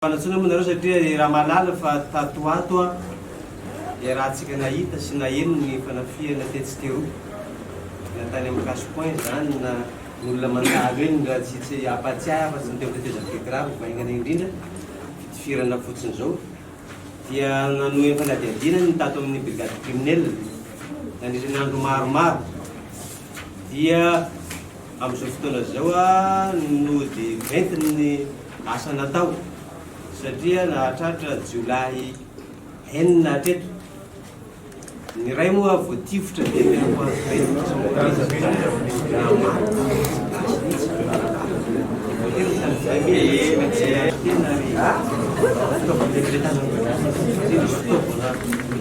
Fanatsoina moa nareo satria i Ramalala fa tato ho ato iarahantsika nahita sy naheno ny fanafihana tetsy teroa na tany amin'ny cash point izany na ny olona mandalo eny raha tsy tsy hampahatsiahy aho fa tsy ny teo tetezamita Begrave vaingana indrindra fitifirana fotsiny izao dia nanohy ny fanadihadiana ny tato amin'ny brigade criminelle nandritra ny andro maromaro dia Amin'izao fotoana izao no dia ventiny ny asa natao satria nahatratra jiolahy enina hatreto. Ny iray moa vao tifitra dia tena ho azy ireny tsy mora aza ny zaza na maty gasy mihitsy no naratany. Tena ry.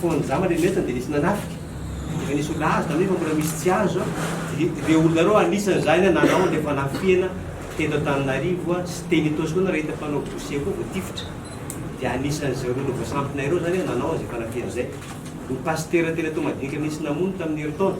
Fony za mba nirehetra dia nisy nanafika, efa nisy olona azo tamin'iny fa mbola misy tsy azo, ireo olona ireo anisan' izany nanao an'ilay fanafihana teto Antananarivo sy teny Itaosy koa nareo hita mpanao dossier koa voatifitra, dia anisan'izay olona voasampina ireo izany nanao an'izay fanafihana izay. Ny pasitera teny Toamadinika nisy namono tamin'ny herintaona,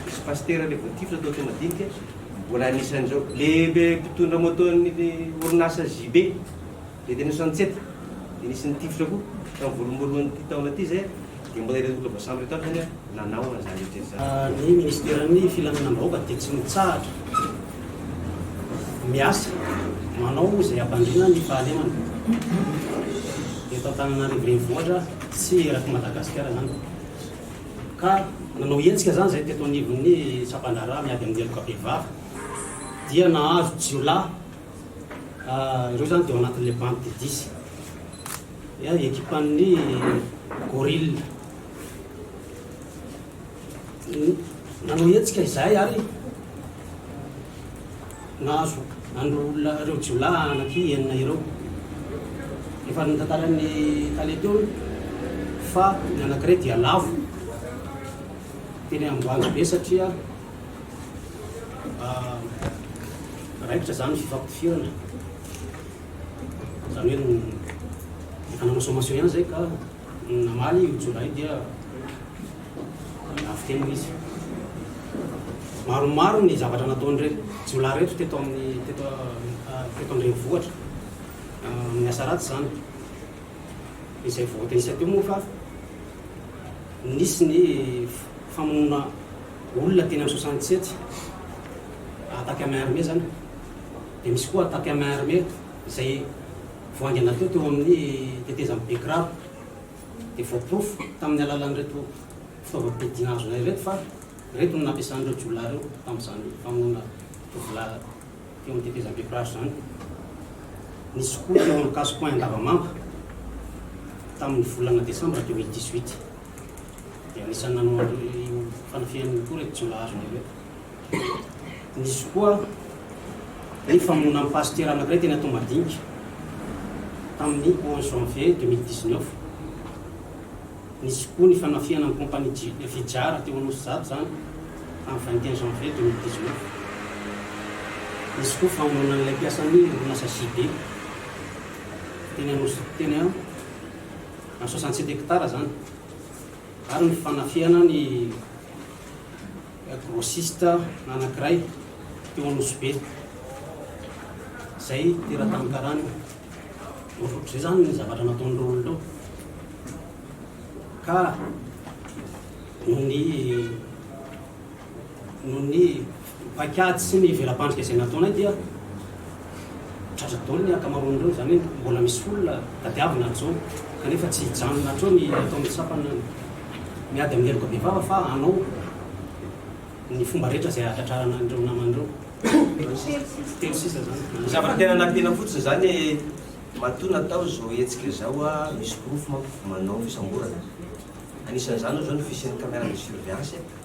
nisy pasitera ilay voatifitra tao Toamadinika, mbola anisan'izao. Ilay mpitondra moto-n'ny orinasa JB. Dia teny Ansanitsety dia nisy nitifitra koa tamin'ny voalohamboloan'ity taona ity izay dia mbola ireo olona voasambo ireto avy izany no nanao an'izany rehetra izany. Ny minisiteran'ny filaminam-bahoaka dia tsy mitsahatra miasa manao izay hampandriana ny fahalemana eto Antananarivo renivohitra sy erak'i Madagasikara izany ka nanao hetsika izany izay teto anivon'ny sampan-draharaha miady amin'ny heloka bevava dia nahazo jiolahy Ireo izany dia ao anatin'ilay bandy dia dizy. Ny ekipan'ny Gorille nanao hetsika izahay ary nahazo an'ireo olona ireo jiolahy anaky enina ireo. Efa notantaran'ny tale teo fa ny anankiray dia lavo teny Amboanjobe satria raikitra izany ny fifampidifirana, izany hoe ny nanao sommation ihany izay ka namaly io jiolahy io dia navoteny izy. Maromaro ny zavatra nataon'ireto jiolahy ireto teto amin'ny teto teto an-drenivohitra amin'ny asa ratsy izany. Izay voatenisany teo moa fa nisy ny famonoana Olona teny amin'ny soixante sept attaque à main armée izany dia misy koa attaque à main armée izay vao haingana teo teo amin'ny tetezan'i Bekiraro dia voaporofo tamin'ny alalan'ireto fitaovam-piadiana azonay ireto fa ireto no nampiasan'ireo jiolahy ireo tamin'izany famonoana tovolahy teo amin'ny tetezan'i Bekiraro izany. Nisy koa teo amin'ny casse point Andavamamba tamin'ny volana desambra deux mille dix huit. dia anisan'ny nanao an'io fanafihana io koa ireto jiolahy azony ireto. Nisy koa ny famonoanan'ny pasitera anankiray teny Toamadinika tamin'ny 11 janvier 2019. Nisy koa ny fanafihana ny kompania Fijara teo Anosizato izany tamin'ny 21 janvier 2019. Nisy koa famonoana an'ilay mpiasan'ny orinasa JB teny Anosizato teny na soixante sept hectares zany ary ny fanafihana ny grossiste anakiray teo Anosibe zay teratany karana ohatr'ohatr'izay zany ny zavatra nataon'ireo olona ireo ka noho ny Noho ny paikady sy ny vela-pandrika izay nataonay dia tratra daholo ny ankamaroan'ireo, izany hoe mbola misy folona tadiavina hatr'izao, kanefa tsy hijanona hatreo ny ataon'ny sampana miady amin'ny heloka bevava fa hanao ny fomba rehetra izay hahatratrarana an'ireo namany ireo. Telo sisa izany. Ny zavatra tena nampiana fotsiny izany matoa natao izao hetsika izao, misy porofo manko fa manao fisamborana. Anisan'izany ohatra izao ny fisian'ny caméra de surveillance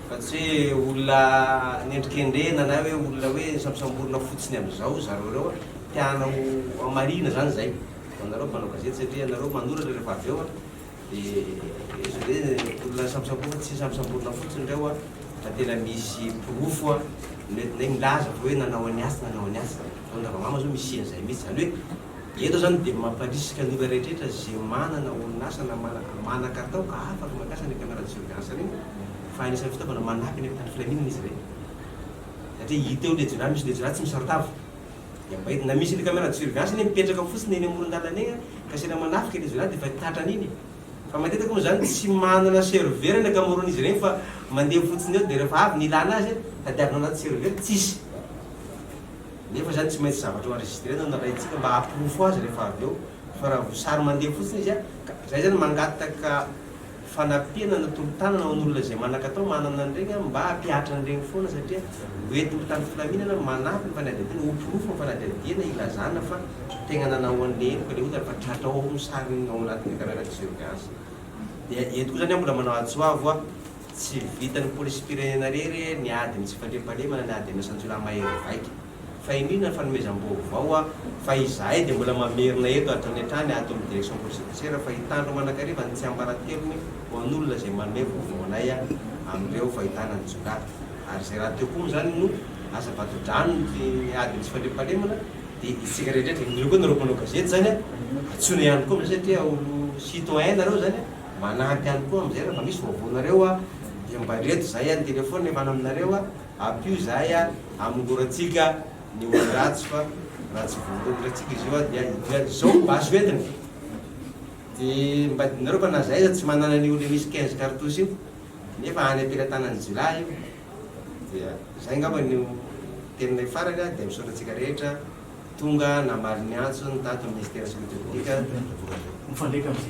Fa tsy hoe olona anendrikendrehina na hoe olona hoe sambosamborina fotsiny amin'izao zareo ireo a. Te hanao hamarihina izany izay ho anareo mpanao gazety satria ianareo manoratra rehefa avy eo dia efa hoe olona sambosamborina, tsy sambosamborina fotsiny ireo a fa tena misy porofo a. Ny hoe milaza fa hoe nanao an'i atsy nanao an'i atsy. Ny Ravamama izao misia an'izay mihitsy. Izany hoe Eto izany dia mamparisika ny olona rehetra izay manana orinasa na manan-katao ka afaka mampiasa ny caméra de surveillance ireny fa anisan'ny fitaovana manampy any amin'ny filaminana izy ireny satria hita eo ilay jirama, misy ilay jirama tsy misaron-tava dia mba hita na misy ilay caméra de surveillance anie mipetraka fotsiny eny amoron-dalana eny ka saina manafika ilay jirama dia efa tratran' iny e! fa matetika moa izany tsy manana serveur ny ankamaroan'izy ireny fa mandeha fotsiny eo dia rehefa avy ny ilana azy tadiavina anaty serveur tsisy nefa izany tsy maintsy zavatra ho enregistrena no nalaintsika mba hahaporofo azy rehefa avy eo fa raha voasary mandeha fotsiny izy an! ka izay izany mangataka fanampiana na tolo-tanana ho an'olona izay manan-katao manana an'ireny an! mba hampihatra an'ireny foana satria ho entiny tany filaminana manampy ny fanadihadiana ho porofo ny fanadihadiana hilazana fa tegna nanao an'ilay heloka ilay olona fa tratrao ao ny sariny ao anatin'ny caméra de surveillance dia eto koa izany aho mbola manao ady soa avoa Tsy vitan'ny polisim-pirenena irery ny ady ny tsy fandriampahalemana ny ady amin'ireo sanjiolahy mahery vaika. Fa iniana ny fanomezam-baovao a! Fa izahay dia mbola mamerina eto hatrany hatrany ato amin'ny direction police judiciaire fa hitandro manakariva ny tsiambaratelony ho an'olona izay manome vaovao anay amin'ireo fahitana ny jiolahy. Ary izay rahateo koa moa izany no asa vato-drano ny ady ny tsy fandriampahalemana dia isika rehetra rehetra, indrindra koa nareo mpanao gazety izany a! Antsoina ihany koa amin'izay satria olo-citoyen nareo izany a! Manampy ihany koa amin'izay raha mba misy vaovao anareo a, dia mba aleto izahay any telefaonina hiafana aminareo a, ampio izahay a, hamongorantsika ny olona ratsy fa raha tsy voaroy ndray tsika izy io a, dia hidina any. Izao no basy hoentiny. Dia mba adinonareo fa na izahay aza tsy manana an'io ilay misy quinze cartouches io, nefa any am-pelatanan'ny jiolahy io. Dia izay angamba no teninay farany a, dia misaotra antsika rehetra tonga namaly ny antso ny tato ny Minisitera Sekirite Piblikany.